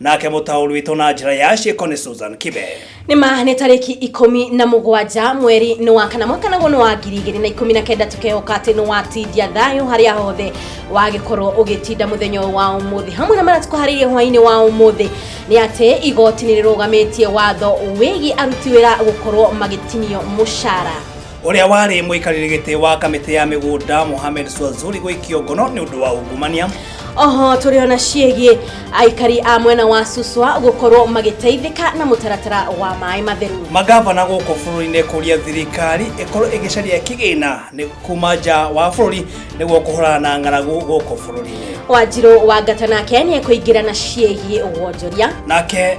nake mũtaũri witũ na njĩra ya ciĩko nĩ Susan Kibe nĩ ma nĩ tarĩki ikũmi na mũgwanja mweri nĩ wa kana mwaka naguo nĩ wa ngiri igĩrĩ na ikũmi na kenda tũkehoka atĩ nĩ watindia thayũ harĩa hothe wagĩkorwo ũgĩtinda mũthenya ũyũ wa ũmũthĩ hamwe na marĩa tũkũharĩirie hwainĩ wa ũmũthĩ nĩ atĩ igoti nĩ rĩrũgamĩtie watho wĩgiĩ aruti wĩra gũkorwo magĩtinio mũcara ũrĩa warĩ mũikarĩri gĩtĩ wa kamĩtĩ ya mĩgũnda Mohamed Swazuri gũikio ngono nĩ ũndũ wa ungumania oho tũrĩ ona ciĩgiĩ aikari a mwena wa Suswa gũkorwo magĩteithĩka na mũtaratara wa maĩ matheru magavana gũkũ bũrũri-inĩ kũria thirikari ĩkorwo ĩgĩcaria kĩgĩna nĩ kuma nja wa bũrũri nĩguo kũhũrana na ng'aragu gũkũ bũrũri-inĩ wanjirũ wa ngata nake nĩ ekũingĩra na ciĩgiĩ wonjoria nake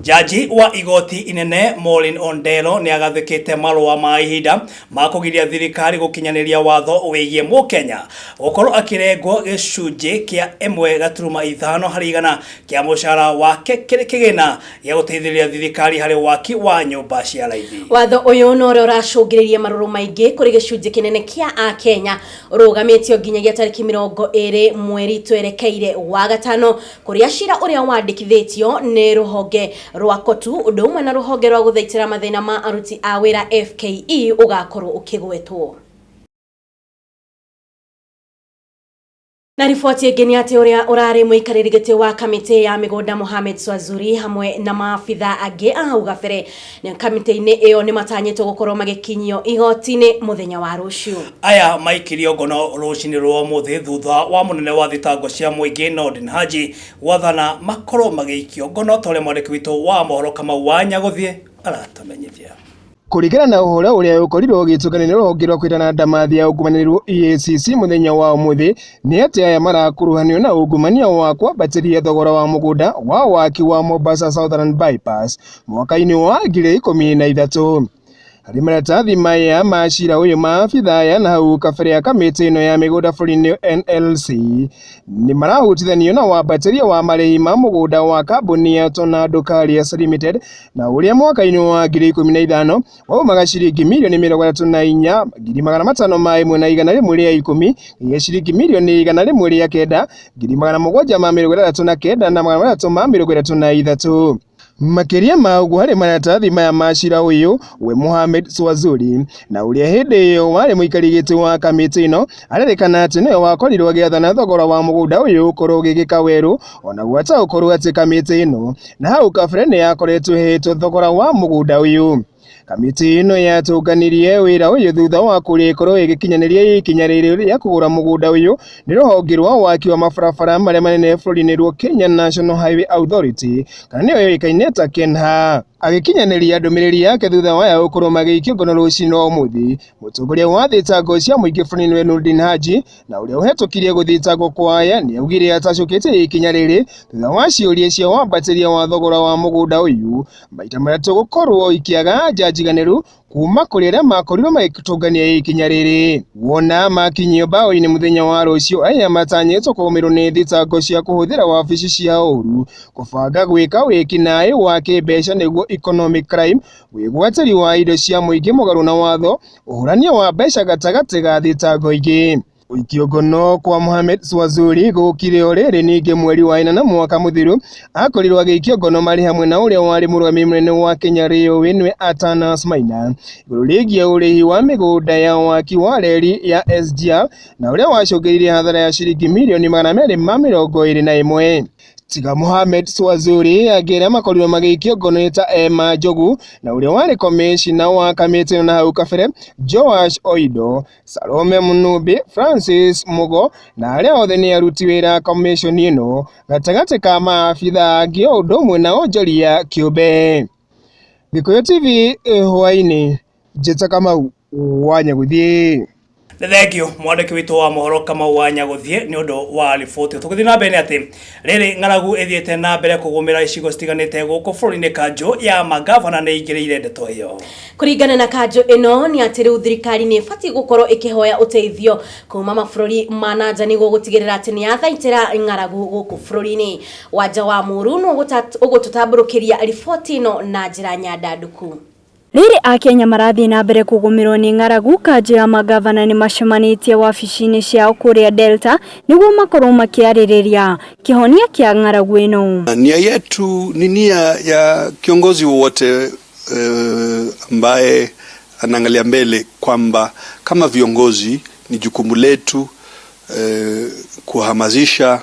Jaji wa igoti inene Maureen Ondero nĩ agathĩkĩte marũa ma ihinda ma kũgiria thirikari gũkinyanĩria watho wĩgiĩ Mũkenya gũkorwo akĩrengwo gĩcunjĩ kĩa ĩmwe gaturuma ithano harĩ igana kĩa mũcara wake kĩrĩ kĩgĩna gĩa gũteithĩrĩria thirikari harĩ waki wa nyũmba cia raithi. Watho ũyũ no ũrĩa ũracũngĩrĩirie marũrũ maingĩ kũrĩ gĩcunjĩ kĩnene kĩa Akenya ũrũgamĩtio nginyagia tarĩki mĩrongo ĩrĩ mweri twerekeire wa gatano Kũrĩa cira ũrĩa wandĩkithĩtio nĩ rũhonge rwa KOTU ũndũ ũmwe na rũhonge rwa gũthaitĩra mathĩna ma aruti a wĩra FKE ũgakorwo ũkĩgwetwo. Na riboti ĩngĩ nĩ atĩ ũrĩa ũrarĩ mũikarĩri gĩtĩ wa kamĩtĩ ya mĩgũnda Mohamed Swazuri hamwe na maabitha angĩ a hau gabere Kamĩtĩ-inĩ ĩyo nĩ matanyĩtwo gũkorwo magĩkinyio igoti-inĩ mũthenya wa rũciũ. Aya maikirio ngono rũcinĩ rwa ũmũthĩ thutha wa mũnene wa thitango cia mũingĩ Noordin Haji gwathana makorwo magĩikio ngono ta ũrĩa mwandĩki witũ wa mohoro Kamau wa Nyagũthiĩ aratũmenyithia. Kũringana na ũhoro ũrĩa ũkorirwo ũgĩtũkanio nĩ rũhonge rwa kwĩrana ndamathi ya ungumania rwo EACC mũthenya wa ũmũthĩ nĩ atĩ aya marakuruhanio na ungumania wa kwambatĩria thogora wa mũgũnda wa waki wa Mombasa Southern Bypass mwaka-inĩ wa ngiri ikũmi na ithatũ harĩ maratathi maya ma cira ũyũ maabitha aya na hau kabere a kamĩtĩ ĩno ya mĩgũnda bũrũri-inĩ NLC nĩ marahutithanio na wambatĩria wa marĩhi ma mũgũnda wa kambuni ya Tornado Carriers Limited na ũrĩa mwaka-inĩ wa ngiri ikũmi na ithano waumaga ciringi mirioni mĩrongo ĩtatũ na inya ngiri magana matano ma ĩmwe na igana rĩmwe rĩa ikũmi gĩa ciringi mirioni igana rĩmwe rĩa kenda ngiri magana mũgwanja ma mĩrongo ĩtandatũ na kenda na magana matatũ ma mĩrongo ĩtatũ na ithatũ Makĩria ma ũguo, harĩ maratathi maya ma cira ũyũ, we Mohamed Swazuri, na ũrĩa hĩndĩ ĩyo warĩ mũikari gĩtĩ wa kamĩtĩ ĩno, arerĩkana atĩ nĩwe wakorirwo agĩathana thogora wa mũgũnda ũyũ ũkorwo ũgĩgĩka werũ, ona gwata gũkorwo atĩ kamĩtĩ ĩno na hau kabere nĩ yakoretwo ĩheetwo thogora wa mũgũnda ũyũ. Kamĩtĩ ĩno yatũnganirie wĩra ũyũ thutha wa kũrĩkorwo ĩgĩkinyanĩria ikinya rĩrĩ rĩa kũgũra mũgũnda ũyũ nĩ rũhonge rwa waki wa mabarabara marĩa manene bũrũri-inĩ rwa Kenya National Highway Authority kana nĩyo yũĩkaine ta KENHA. Agĩkinyanĩria ndũmĩrĩri yake thutha wa aya gũkorwo magĩikio ngono rũcinĩ rwa ũmũthĩ, mũtongoria wa thitango cia mũingĩ bũrũri-inĩ wa Nurdin Haji na ũrĩa ũhetũkirie gũthitangwo kwa aya nĩ augire atacũkĩtie ikinya rĩrĩ thutha wa ciũria cia wambatĩria wa thogora wa mũgũnda ũyũ maita marĩa tũgũkorwo ikĩaga anja njiganĩru kuma kũrĩ arĩa makorirwo magĩtũngania ikinya rĩrĩ. Wona makinyio mbaũ-inĩ mũthenya wa rũciũ, aya matanyĩtwo kũgũmĩrwo nĩ thitango cia kũhũthĩra wabici cia ũru, kũbanga gwĩka wĩkinaĩ wa kĩmbeca nĩguo economic crime, wĩgwatĩri wa indo cia mũingĩ mũgarũ na watho, ũhũrania wa mbeca gatagatĩ ga thitango ingĩ. Gũikio ngono kwa Mohamed Swazuri gũkire o rĩrĩ ningĩ mweri wa ĩnana mwaka mũthiru akorirwo agĩikio ngono marĩ hamwe na ũrĩa warĩ mũrũgamĩrĩri mũnene wa Kenya Railway nĩwe Atanas Maina igũrũ rĩgiĩ ũrĩhi wa mĩgũnda ya waki wa reri ya SGR na ũrĩa wacũngĩrĩirie hathara ya ciringi mirioni magana merĩ ma mĩrongo ĩrĩ na ĩmwe. Tiga Mohamed Swazuri angĩ arĩa makorirwo magĩikio ngono nĩ ta Emma Njogu na ũrĩa warĩ komĩcina wa kamĩtĩ ĩno na hau kabere Joash Oido Salome Mũnũmbĩ, Francis Mũgo na arĩa othe nĩ aruti wĩra komishoni ĩno gatagatĩ ka maabitha angĩ o ũndũ ũmwe na onjoria kĩũmbe. Gĩkũyũ TV eh, hwainĩ, Njĩta Kamau wa Nyagũthiĩ. nĩ thengio mwandĩki witũ wa mohoro kamau wa nyagũthiĩ nĩ ũndũ wa riboti tũgĩthiĩ na mbere nĩ atĩ Rĩrĩ ng'aragu ĩthiĩte na mbere kũgũmĩra icigo citiganĩte gũkũ bũrũri-inĩ kanjũ ya magavana nĩ ingĩrĩire ndeto ĩyo. Kũringana na kanjũ ĩno nĩ atĩ rĩu thirikari nĩ ĩbatiĩ gũkorwo ĩkĩhoya ũteithio kuma mabũrũri ma nanja nĩguo gũtigĩrĩra atĩ nĩ yathaitĩra ng'aragu gũkũ bũrũri-inĩ. Wanja wa Mũũru nĩ ũgũtũtambũrũkĩria riboti ĩno na njĩra nyandandũku. Rĩrĩ Akenya marathiĩ na mbere kũgũmĩrwo nĩ ng'aragu, kanjũ ya mangavana nĩ macemanĩtie wabici-inĩ ciao kũrĩa Delta nĩguo makorwo makĩarĩrĩria kĩhonia kĩa ng'aragu ĩno. Nia yetu ni nia ya kiongozi wowote ambaye anaangalia mbele kwamba kama viongozi ni jukumu letu kuhamasisha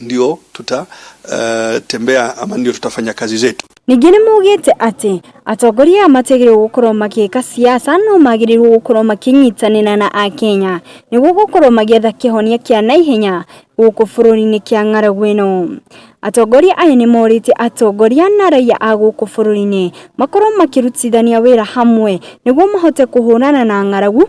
ndio tutatembea uh, ama ndio tutafanya kazi zetu. Ningĩ nĩ mugĩte atĩ atongoria aya matigĩrĩirwo gũkorwo magĩka siasa no magĩrĩirwo gũkorwo makĩnyitanĩra na Akenya nĩguo gũkorwo magĩetha kĩhonia kĩa naihenya gũkũ bũrũri-inĩ kĩa ng'aragu ĩno. Atongoria aya nĩ morĩte atongoria na raiya a gũkũ bũrũri-inĩ makorwo makĩrutithania wĩra hamwe nĩguo mahote kũhũrana na ng'aragu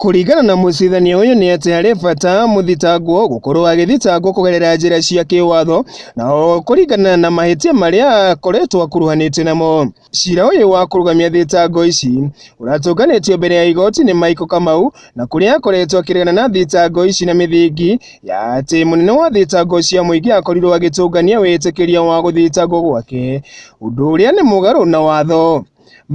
Kũringana na mũcirithania ũyũ nĩ atĩ harĩ bata mũthitangwo gũkorwo agĩthitangwo kũgerera njĩra cia kĩwatho na o kũringana na mahĩtia marĩa akoretwo akuruhanĩtio namo. Cira ũyũ wa kũrũgamia thitango ici ũratũnganĩtio mbere ya igoti nĩ Michael Kamau na kũrĩa akoretwo akĩregana na thitango ici na mĩthingi ya atĩ mũnene wa thitango cia mũingĩ akorirwo agĩtũngania wĩtĩkĩria wa gũthitangwo gwake ũndũ ũrĩa nĩ mũgarũ na watho.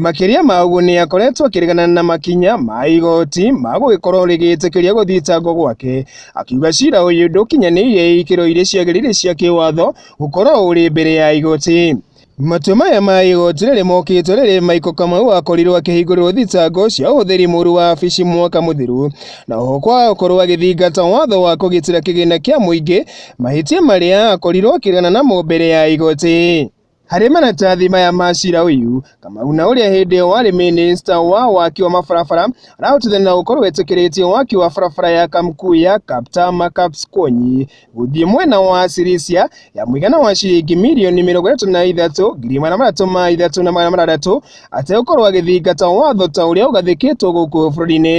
Makĩria ma ũguo nĩ akoretwo akĩregana na makinya ma igoti ma gũgĩkorwo rĩgĩtĩkĩria gũthitangwo gwake, akiuga cira ũyũ ndũkinyanĩire ikĩro iria ciagĩrĩire cia kĩwatho gũkorwo ũrĩ mbere ya igoti. Matua maya ma igoti rĩrĩ mokĩte rĩrĩ Michael Kamau akorirwo akĩhingũrĩrwo thitango cia ũhũthĩri mũru wa wabici mwaka mũthiru na oho kwaga gũkorwo agĩthingata watho wa kũgitĩra kĩgĩna kĩa mũingĩ, mahĩtia marĩa akorirwo akĩregana namo mbere ya igoti. Harĩ maratathi maya ma cira ũyũ, Kamau na ũrĩa hĩndĩ ĩyo warĩ mĩnĩsta wa waki wa mabarabara arahotithania na gũkorwo etĩkĩrĩtie waki wa barabara ya Kamkuya Kaptama Kapskonyi gũthiĩ mwena wa Sirisia ya mũigana wa ciringi mirioni mĩrongo ĩtatũ na ithatũ ngiri magana matatũ ma ithatũ na magana matandatũ ategũkorwo agĩthingata watho ta ũrĩa ũgathĩkĩtwo gũkũ bũrũri-inĩ.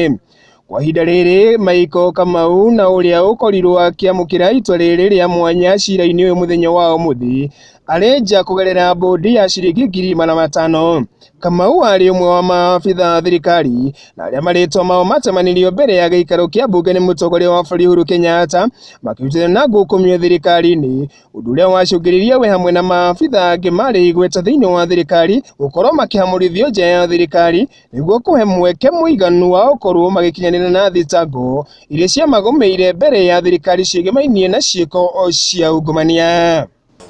Kwa ihinda rĩrĩ Michael Kamau na ũrĩa ũkorirwo akĩamũkĩra itua rĩrĩ rĩa mwanya cira-inĩ ũyũ mũthenya wa ũmũthĩ arĩ nja kũgerera bondi ya ciringi ngiri magana matano. Kamau arĩ ũmwe wa maabitha a thirikari na arĩa marĩtwa mao matemanirio mbere ya gĩikaro kĩa mbunge nĩ mũtongoria wa bũrũri Uhuru Kenyatta makĩrutana na ngukumio thirikari-inĩ, ũndũ ũrĩa wacũngĩrĩirie we hamwe na maabitha angĩ marĩ igweta thĩinĩ wa thirikari gũkorwo makĩhamũrithio nja ya thirikari nĩguo kũhe mweke mũiganu wa gũkorwo magĩkinyanĩra na thitango iria ciamagũmĩire mbere ya thirikari ciĩgemainie na ciĩko cia ungumania.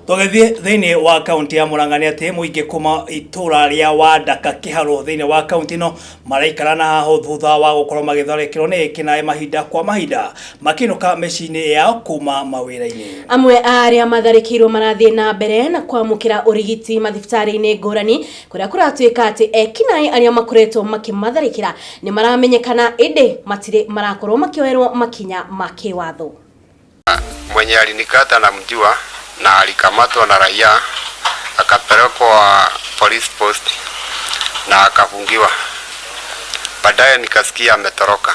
Tũgĩthiĩ thĩinĩ wa kaunti ya Murang'a nĩ atĩ mũingĩ kuma itũra rĩa Wandaka Kĩharũ thĩinĩ wa kaunti ĩno maraikara na hahũ thutha wa gũkorwo magĩtharĩkĩrwo nĩ ekinaĩ mahinda kwa mahinda makĩinũka mĩciĩ-inĩ yao kuma mawĩra-inĩ. Amwe a arĩa matharĩkĩirwo marathiĩ na mbere na kwamũkĩra ũrigiti mathibitarĩ-inĩ ngũrani kũrĩa kũratuĩka atĩ ekinaĩ arĩa makoretwo makĩmatharĩkĩra nĩ maramenyekana ĩndĩ matirĩ marakorwo makĩoerwo makinya ma kĩwatho. mwenye alinikata na mjua na alikamatwa na raia akapelekwa police post na akafungiwa. Baadaye nikasikia ametoroka.